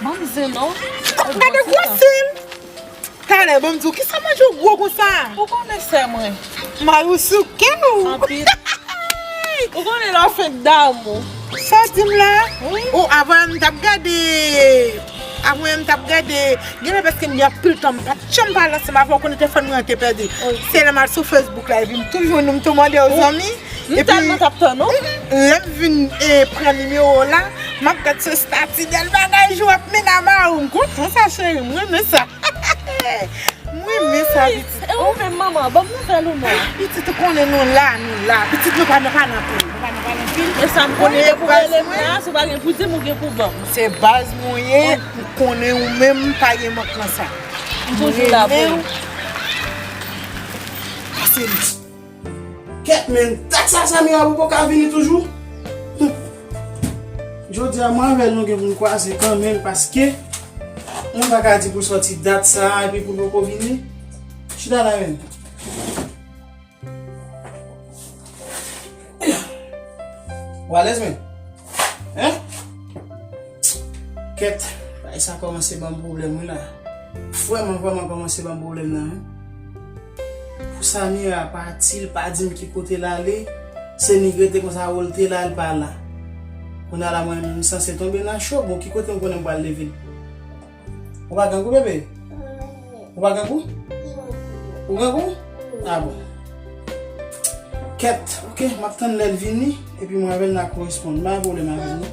Banm zeno ou bon ti tan. Talè banm diw kisa manje ou gwo konsa. Ou konnen sè mwen. Mari ou sou kè ou. Anpil. Ou konnen lè w fenk damou. Sa w dim la. Oh avan m tap gade. Avwen m tap gade. Genlè paske m gen anpil tan m pat janm pale ansanm avèw konnen telefòn mwen an te pèdi. Se lè m al sou Facebook la epi m tou jwenn ou m tou mande w zanmi. M tèlman tap tann ou. Lèm vin pran nimewo w la map gad sou stati bèl bagay jou ap mennen a marou m kontan sa cheri m renmen sa m renmen sa pitit oh e ou menm manman banm nouvèl ou non pitit ou konnen nou la nou la pitit nou pa nan pa nan pil nou pa nan pa nan pil e sam konnen depi w rele m la se pa gen pou dim ou gen pou banm se baz mwen ye m konnen ou menm pa gen mank nan sa m renmen w pase m. Kèt menn dat sa Samira pou poka vini toujou humm jodia mwen avèl nou gen poun kwaze kan menm paske mwen paka di pou sòti dat sa epi poul poko vini chita la menm humm ou alèz menm hein kèt bagay sa kòmanse banm pwoblèm wi la frèman vrèman kòmanse banm pwoblèm nan wi. Pou Samira pati l pa dim ki kote l ale, se nik rete konsa ou l te la l pa la. Kounya la mwen menm m sanse tonbe nan cho, bon ki kote m konnen m pral leve l. Ou pa grangou bebe? Ou pa grangou? Ou grangou? Ah bon. Kèt ok m ap tann lè l vini epi mwen avè l n a koresponn, m pa gen pwoblèm avè l non.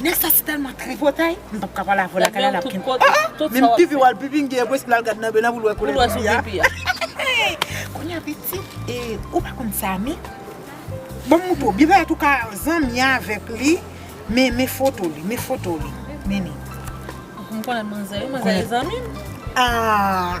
Nèg sa se tèlman tripotay. M pap ka pale avèw la kale lap kenbe. Ah ah menm pipi wal pipi gen pwes pou lal gad nan bena poul wè koulè pipi a. Kounya pitit e ou pa konn sa men Bon moutre w byen pèt ou ka zanmi avèk li men men foto li men foto li mennen. M konnen manzè wi manzè e zanmi m. Aah.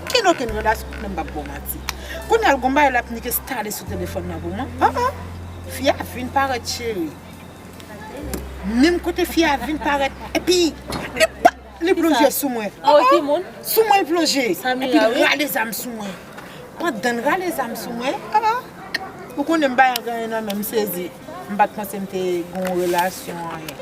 Keno ken grandas ou menm pap bon manti kounya l gon bagay lap nike stale sou telefòn nan pou mwen oh oh fi a vin parèt cheri menm kote fi a vin parèt epi li pa li plonje sou mwen oh oh sou mwen l plonje epi l rale zam sou mwen pandan l rale zam sou mwen oh oh ou konnen m pa yon gaye nan men m sezi m pat panse m te gon relasyon anyen.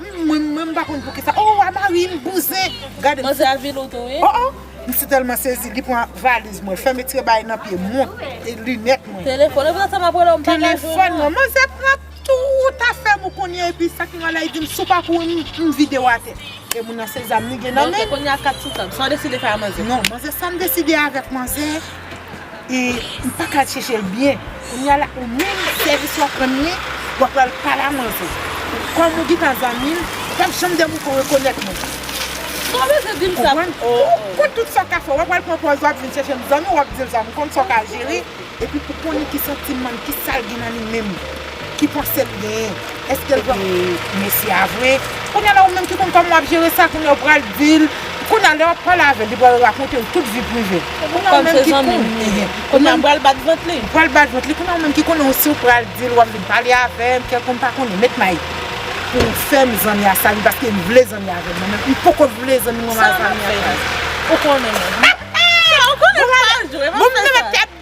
Mwen menm m pa konn poukisa oh a marim bouzen gade. Manzè a vil ou tou wi. Oh oh m si telman sezi li pran valiz mwen fèmen trebay nan pye mont e linèt mwen. Telefòn ou pran sa map rele w m pa ka jwenn ou. Telefòn mwen manzè pran tout afèm ou kounye epi sak nou ala li dim si w pa kouri m vide w atè e moun nan se zam li gen nan menl. Ok kounye a kat sou tab sa w deside fè a manzè. Non manzè sam deside avèk manzè. e ou paka al chechel byen kounya la ou menm sèvis wap rann li wap pral pale a manzè kòm ou gintan zanmil ou pap janm dèm ou ko rekonèt mwen ou konprann ou konn tout sa ou ka fè wap al pran pòz wap vin chèchem zanmi wap dil sa ou konn sa ou ka jere epi ou konnen ki santimanl ki sal gen nan li menm Ki panse l genyen? Eske l pral. Mesye a vre. Kounya la ou menm ki konn kòman w ap jere sa kounya ou pral di l. Kounya lè w ap pale avè l li pral rakonte w tout vi prive l. Kounya ou menm ki konn. Kòm se zanmi m li. Kounya m pral bat vant li. Ou pral bat vant li. Kounya ou menm ki konnen w si w pral di l w ap vin pale avè m kèlkonn m pa konnen. Met Mayik pou w fè m zanmi a sa ui paske m vle zanmi avè l mwen menm m poko vle zanmi mwen mal zanmi avè l. Sa m ap fè li? Ou konnen mwen. Ou konnen m pa jwe m ap fè sa.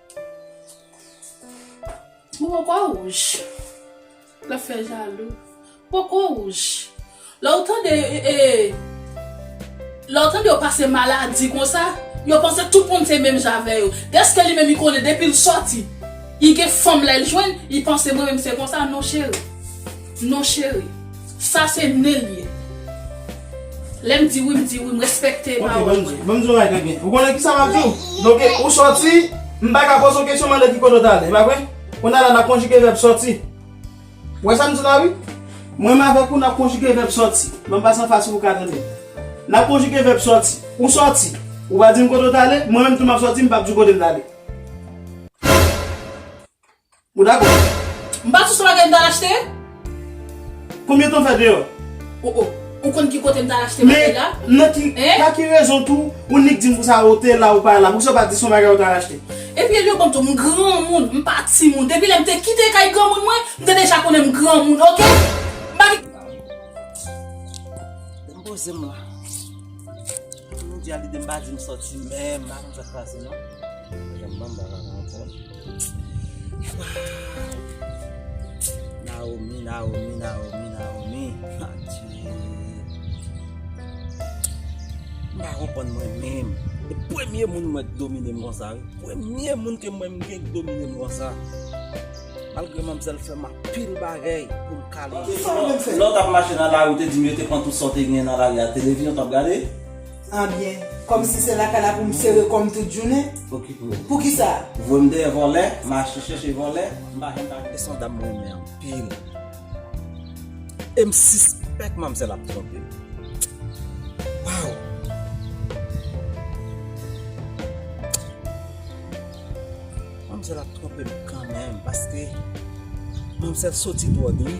Momo kwa wouj la fè jalou pou kwa wouj lè ou tande e lè ou tande yo pase maladi konsa yo panse tout moun se menm jan avè yo dèske li menm li konnen depil sòti li gen fanm lèl jwenn li panse mwen menm se konsa non cheri non cheri. Sa se nen l ye. Lè m di wi m di wi m respekte pawòl mwen. Ok banm di w yon bagay Gangèt. Ou konnen kisa m ap di w? Donk ou sòti m pa ka poze w kesyon mande ki kote w t ale e pa vre? Kounya la n ap konjige vèb sòti. Ou wè sa m di w la wi? Mwen m avèk ou n ap konjige vèb sòti. Ban m pase anfas ou pou w ka tande. N ap konjige vèb sòti. Ou sòti. Ou pa di m kote w t ale, mwen menm tou m ap sòti m p ap di w kote m t ale. Ou dakò? M pa sou se bagay m t al achte? Konbyen tan w fè deyò? O o! Ou konn ki kote m t al achte bagay la? Men, nan ki, pa ki rezon tou, ou nik di m pou sa ou te la ou pa la? Poukisa ou pa di s on bagay ou t al achte? Epi Elio banm tou, m granmoun, m pa timoun. Depi lè m te kite kay granmoun mwen, m te deja konnen m granmoun, ok? M pa gen. M poze m la. Tout moun di a lide m pa di m sòti menm. M pa konn sa k pase non. Mwen janm banm bagay la ankò. Naomi Naomi Naomi Naomi Adye M pa konprann mwen menm E premye moun m wè k domine m konsa wi Premye moun ke m wè m gen k domine m konsa Malgre manmzèl fè m anpil bagay pou m kale Lè w t ap mache nan lari ou te di m yo te pran tout sa w te genyen nan lari a Televizyon w t ap gade An byen. Kom si se lakay la pou m sere kò m tout jounen? Pou ki sa? Voye m dèyè vòlè, mache chèche vòlè, m pa janm pale. Son dam m renmen anpil. E m sispèk manmzèl ap twonpe m. Waww. Manmzèl ap twonpe m kanmenm paske manmzèl soti dwòg li.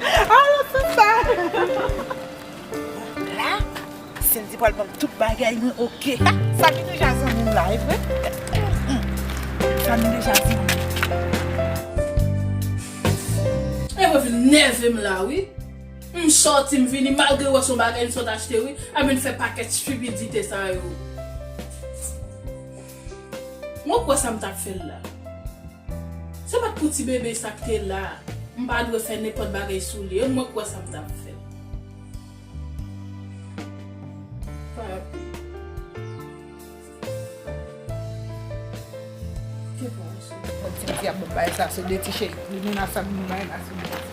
Alon tout sa. Bon la Cindy pral banm tout bagay mwen ok. Sa vin deja zanmim la evre. Sa vin deja zanmim. E mwen vin nèvem la wi. M sòti m vini malgre m wè son bagay m sot achte wi. Ap vin fè pakèt stupidite sa yo. Mwen kwè sa m t ap fè l la. Se pa t pou ti bebe sa k te la, m pa dwe fè nenpòt bagay sou li e mwen kwè sa m t ap fè. Papi. Ke pa w sou. Bon ti diab m bay sa se de ti cheri. Li menase m li bay la se de ti cheri.